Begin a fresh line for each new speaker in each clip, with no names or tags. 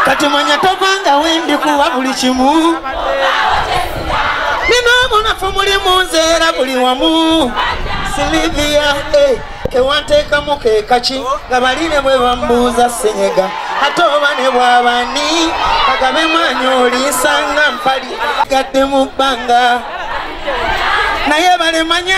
kati manya tovanga wendi kuwa buli kimu nina obunafu muli munzeera buli wamu silivia eh, kewanteekamu kekaki nga bali ne bwe bambuuza senyega ate oba ne bwabani kagabe mwanyi oliisanga mpali gadde mu bbanga naye balemanya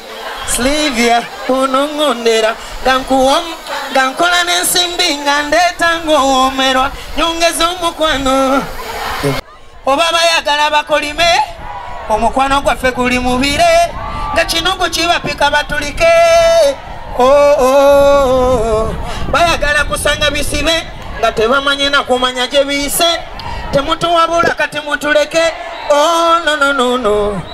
Slivia unong'onera nga nkuwomu nga nkola n'ensimbi nga ndeeta ng'owoomerwa nyongeza omukwano oba bayagala bakolime omukwano gwaffe guli mubire nga kino gukibapika batulike oo oh, oh, oh. bayagala kusanga bisibe nga tebamanyi nakumanya gye biyise temutuwabula kati mutuleke onononono oh, no, no, no.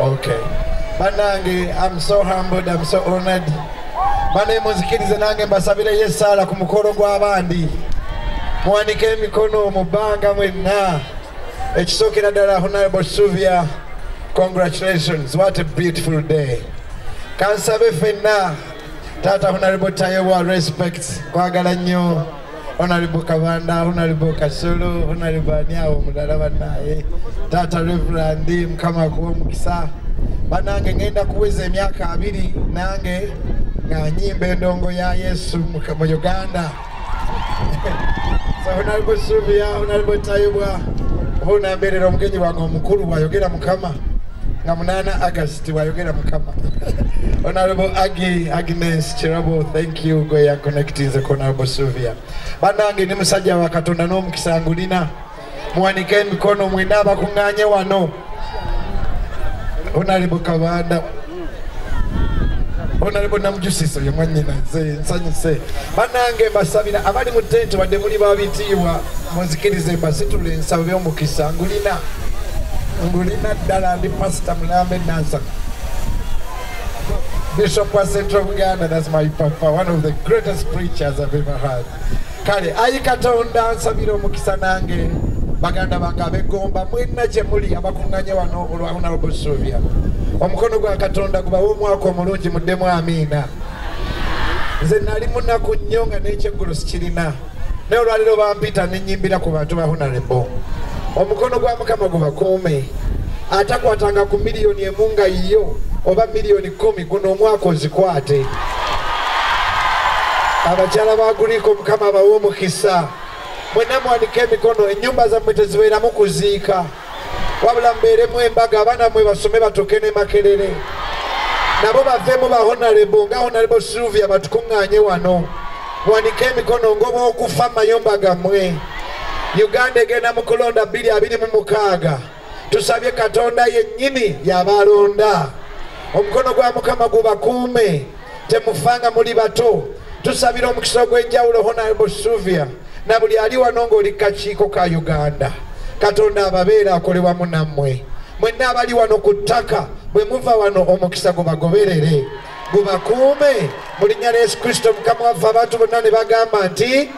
Okay. Banange, I'm so humbled, I'm so honored. Bane muzikirize nange mbasabire ye sala ku mukolo gw'abandi. Muwanike emikono mu bbanga mwenna. Ekisookera ddala Honorable Suvia, congratulations. What a beautiful day. Kansabe fenna Tata Honorable Tayewa respects kwagala nnyo. Honorable Kabanda, Honorable Kasulu, Honorable Anyawo Mudala banaye, Tata Reverend Mkama Kuwa Mkisa, banange ngenda kuweza emyaka abiri nange nga nyimba endongo ya Yesu mu Uganda. so Honorable Sylvia, Honorable Tayubwa, hona mbere no mgenyi wango mkuru wa yogera mkama, nga munana August wa yogera mkama. Honorable Agi, Agnes Chirabo, thank you. kiugo ya connectinze kona bosuvia banange ni musajja wa katonda n'omukisa ngulina muwanike emikono mwena abakuŋŋanye wano onalibu kabanda onalibu namujusiso ye mwanyina nze nsanyuse banange mbasabira abali mu tenti wadde muli babitiibwa munzikirize mbasitula ensabo by'omukisa ngulina ngulina ddala ndi pasita mulambe nansaka Bishop wa Central Buganda, that's my papa, one of the greatest preachers I've ever heard. Kale, ayi katonda nsabira omukisa nange baganda bange abegomba mwena gye muli abakunganye wano olwa honorable Sylvia. Omukono gwa katonda gubawe omwaka omulungi muddemu amiina. Nze nali munaku nnyo nga n'ekyeggulo sikirina. naye olwaliro bampita nenyimbira ku bantu bahonarebo omukono gwa mukama gubakuume atakwatanga ku miliyoni emu nga yiyo oba miliyoni kumi guno omwaka ozikwate abakyala baguliko mukama abawe omukisa mwenna mwanika emikono ennyumba zammwe tezibeeramu kuziika wabula mbeeremu embaga abaana mwe basome batuuke ne makerere nabo bavemu bahonarebo nga honarebo silvia batukuŋŋanye wano wanika emikono ngoba okufa mayumba gammwe uganda egenda mu kulonda 226 tusabye katonda yennyini yabaalonda omukono gwa mukama gubakuume temufa nga muli bato tusabira omukisa ogw'enjawulo honarable suvia na buli ali wano ng'oli kakiiko ka uganda katonda ababeera akole wamu nammwe mwenna abali wano ku ttaka bwe muva wano omukisa gubagoberere gubakuume mu linnya lya yesu kristo mukama waffe abantu bonna ne bagamba nti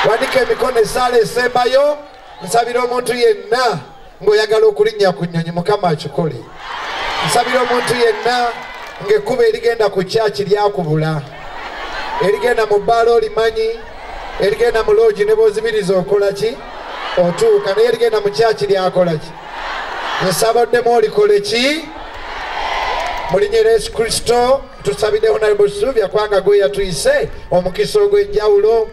wandika emikono esaala esembayo nsabira omuntu yenna ng'oyagala okulinnya ku nnyonyi mukama akikole nsabira omuntu yenna ng'ekkuba erigenda ku kyaki lyakubula erigenda mu bbaala olimanyi erigenda mu loogi ne bozibiriza okola ki otuuka naye erigenda mu kyaki lyakola ki nsaba oddemu olikole ki mulinyera yesu kristo tusabidde honarable sylvia kwanga gwe yatuyise omukisa ogw'enjawulo